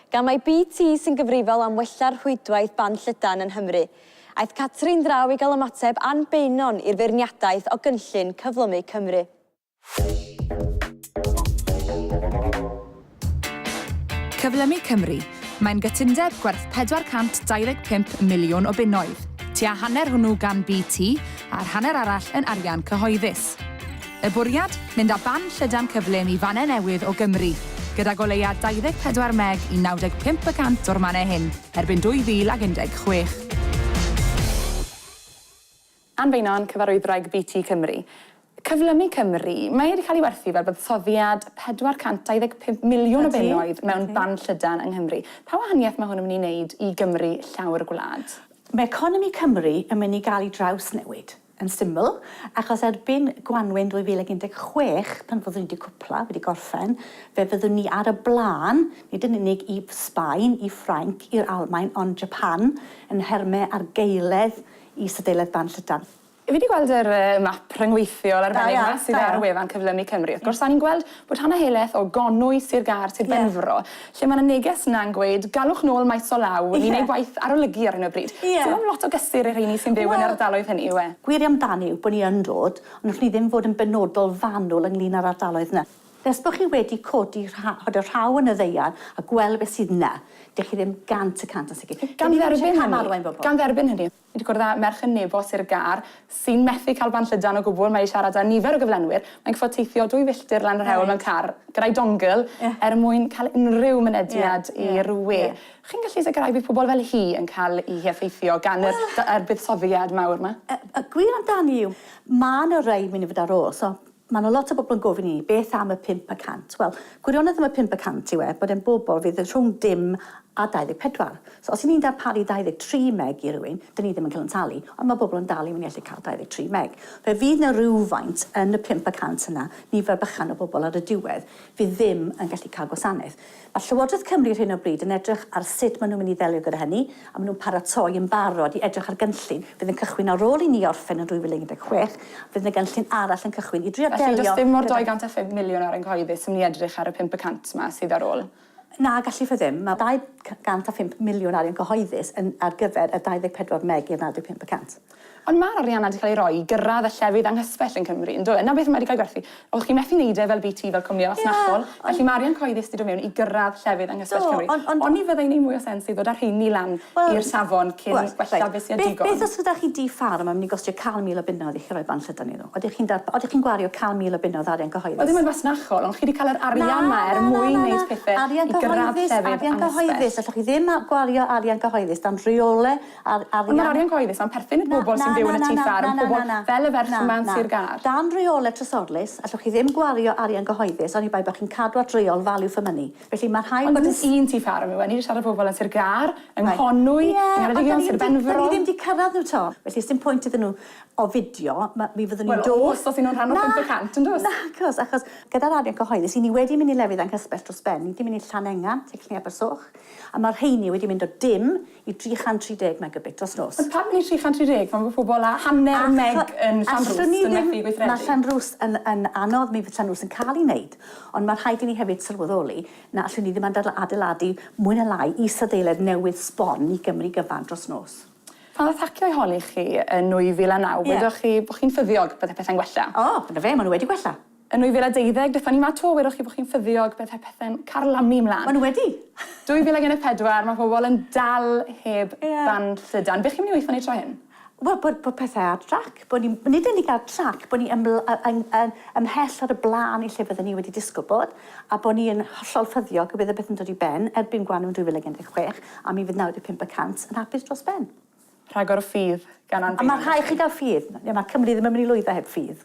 Gan mai BT sy'n gyfrifol am wella'r rhwydwaith ban llydan yng Nghymru, aeth Catrin draw i gael ymateb Ann Beynon i'r feirniadaeth o gynllun Cyflymu Cymru. Cyflymu Cymru, mae'n gytundeb gwerth 425 miliwn o bunnoedd, tua hanner hwnnw gan BT a'r hanner arall yn arian cyhoeddus. Y bwriad? Mynd â band llydan cyflym i fannau newydd o Gymru, gydag o leia 24 meg i 95 y cant o'r mannau hyn erbyn 2016. Ann Beynon, Cyfarwyddwraig BT Cymru. Cyflymu Cymru, mae wedi cael ei werthu fel buddsoddiad 425 miliwn o bunnoedd mewn band llydan yng Nghymru. Pa wahaniaeth mae hwn yn mynd i wneud i Gymru llawr gwlad? Mae economi Cymru yn mynd i gael ei drawsnewid. Yn syml, achos erbyn gwanwyn 2016, pan fyddwn ni wedi cwpla, wedi gorffen, fe fyddwn ni ar y blaen, nid yn unig i Sbaen, i Ffrainc, i'r Almaen, ond Japan, yn nhermau argaeledd i Sydeilaeth Ban Llydan. Fi 'di gweld yr map rhyngweithiol arbennig 'ma sydd ar wefan Cyflymu Cymru. Wrth gwrs, 'sa ni'n gweld Bod hanner helaeth o gonwy Sir Gâr, Sir Benfro, lle mae 'na neges yna'n gweud galwch nôl maes o law, ni'n neud gwaith arolygu ar hyn o bryd. Ie. Sim ond lot o gysur i'r rheini sy'n byw yn yr ardaloedd hynny yw e? Gwir amdani yw bod ni yn dod, ond allwn ni ddim fod yn benodol fanwl ynglŷn â'r ardaloedd 'na. Nes bod chi wedi codi rha- dy rhaw yn y ddaear a gweld beth sydd 'na, dych chi ddim gant y cant yn sicr. Gan dderbyn hynny. Gan dderbyn hynny. Wedi cwrdd â merch yn nebo Sir Gâr sy'n methu cael band llydan o gwbl, mae i siarad â nifer o gyflenwyr, mae'n gorfod teithio dwy filltir lan yr hewl mewn car gyda'i dongle er mwyn cael unrhyw mynediad i'r we. Chi'n gallu sicrhau bydd pobl fel hi yn cael eu heffeithio gan yr buddsoddiad mawr 'ma? Y gwir amdani yw, mae 'na rai mynd i fod ar ôl, so Mae 'na lot o bobl yn gofyn i ni, beth am y pump y cant? Wel, gwirionedd am y pump y cant yw e bod e'n bobl fydd rhwng dim a 24. So, os 'yn ni'n darparu 23 meg i rywun, 'dyn ni ddim yn cael yn talu, ond mae pobl yn dal i fynnu allu cael 23 meg. Fe fydd 'na rywfaint yn y pump y cant yna, nifer bychan o bobl ar y diwedd, fydd ddim yn gallu cael gwasanaeth. Mae Llywodraeth Cymru ar hyn o bryd yn edrych ar sut maen nhw'n mynd i ddelio gyda hynny, a maen nhw'n paratoi yn barod i edrych ar gynllun fydd yn cychwyn ar ôl i ni orffen yn 2016, fydd yna gynllun arall yn cychwyn i drio delio gyda... Felly, does dim mo'r 205 miliwn ar yng nghyhoeddus yn mynd i edrych ar y 500 'ma sydd ar ôl? Na, gallith o ddim. Mae 205 miliwn arian cyhoeddus yn ar gyfer y 24 meg i'r 95 y cant. Ond mae'r arian 'na 'di cael ei roi i gyrraedd y llefydd anghysbell yn Cymru, yn do e? 'Na beth mae 'di cael ei gwerthu. O'ch chi'n methu neud e fel BT, fel cwmni fasnachol. Ie, ond... Felly mae arian cyhoeddus 'di dod mewn i gyrraedd llefydd anghysbell Cymru. Do, ond... Oni fyddai'n neud mwy o sens i ddod â'r rheini lan i'r safon cyn gwella beth sy' ar digon? Beth os gyda chi dŷ ffarm a mynd i gostio 100,000 o bunnoedd i chi roi bant llydan iddyn nhw? Odych chi'n darpa- odych chi'n gwario 100,000 o bunnoedd arian cyhoeddus? Wel ddim yn fasnachol, ond chi 'di cael yr arian 'ma er mwyn neud pethe i gyrraedd llefydd anghysbell. Na, na, na, na, na, arian cyhoeddus, arian cyhoeddus. Allwch chi ddim a- gwario arian cyhoeddus dan reole Ar- arian. Ond ma'r arian cyhoeddus 'na'n perthyn i'r bobl sy'n byw yn y tŷ ffarm, pobl fel y ferch yma yn Sir Gâr. Dan reolau trysorlys, allwch chi ddim gwario arian gyhoeddus oni bai bod chi'n cadw at reol value for money. Felly mae rhaid bod yn... Ond dim un tŷ ffarm yw e, ni 'di siarad â pobl yn Sir Gâr, yng Nghonwy, yng Ngheredigion, Sir Benfro. Ie, ond 'dan ni ddim 'di cyrraedd nhw 'to, felly sdim pwynt iddyn nhw ofidio, ma- mi fyddwn ni'n dod... Wel, os oes nhw'n rhan o 500, yn does? Nagos, achos gyda'r arian cyhoeddus, 'yn ni wedi mynd i lefydd anghysbell dros ben, ni 'di mynd i Llanengan, Tylluan Abersoch, a ma'r rheiny wedi mynd o dim i 330 megabit dros nos. Ond pam neu 330? Mae pobl â hanner y meg yn Llanrwst yn methu gweithredu. Mae Llanrwst yn yn anodd, mi fydd Llanrwst yn cael ei wneud, ond mae rhaid i ni hefyd sylweddoli na allwn ni ddim adl adeiladu mwy na lai isadeiledd newydd sbon i Gymru gyfan dros nos. Pan ddaeth hacio i holi chi yn 2009, wedoch chi bod chi'n ffyddiog byddai pethau'n gwella. O, dyna fe, maen nhw wedi gwella. Yn 2012, beth o'n i 'ma 'to? Wedoch chi bo' chi'n ffyddiog, bydde pethe'n carlamu 'mlan. Ma' nhw wedi! 2014, ma' pobl yn dal heb band llydan. Be' chi'n mynd i weitho neud tro hyn? Wel, bod bod pethe ar drac, bod ni, nid yn unig ar trac, bod ni yml- yy yn yn ymhell ar y bla'n i lle bydden ni wedi disgwl bod, a bod ni yn hollol ffyddiog y bydd y peth yn dod i ben erbyn Gwanwyn 2016, a mi fydd 95 y cant yn hapus dros ben. Rhagor o ffydd gan Ann Beynon felly? Ma' rhai' chi ga'l ffydd. Ie, ma' Cymru ddim yn myn' i lwyddo heb ffydd.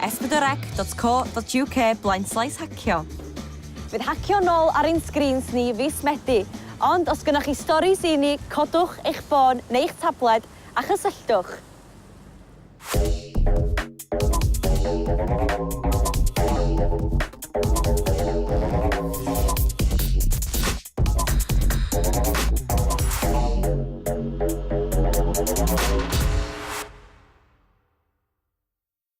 sbwdrec.co.uk blaenslaes hacio. Bydd hacio nôl ar ein sgrîns ni fis Medi, ond os gynnoch chi storis i ni, codwch eich ffôn neu'ch tabled a chysylltwch.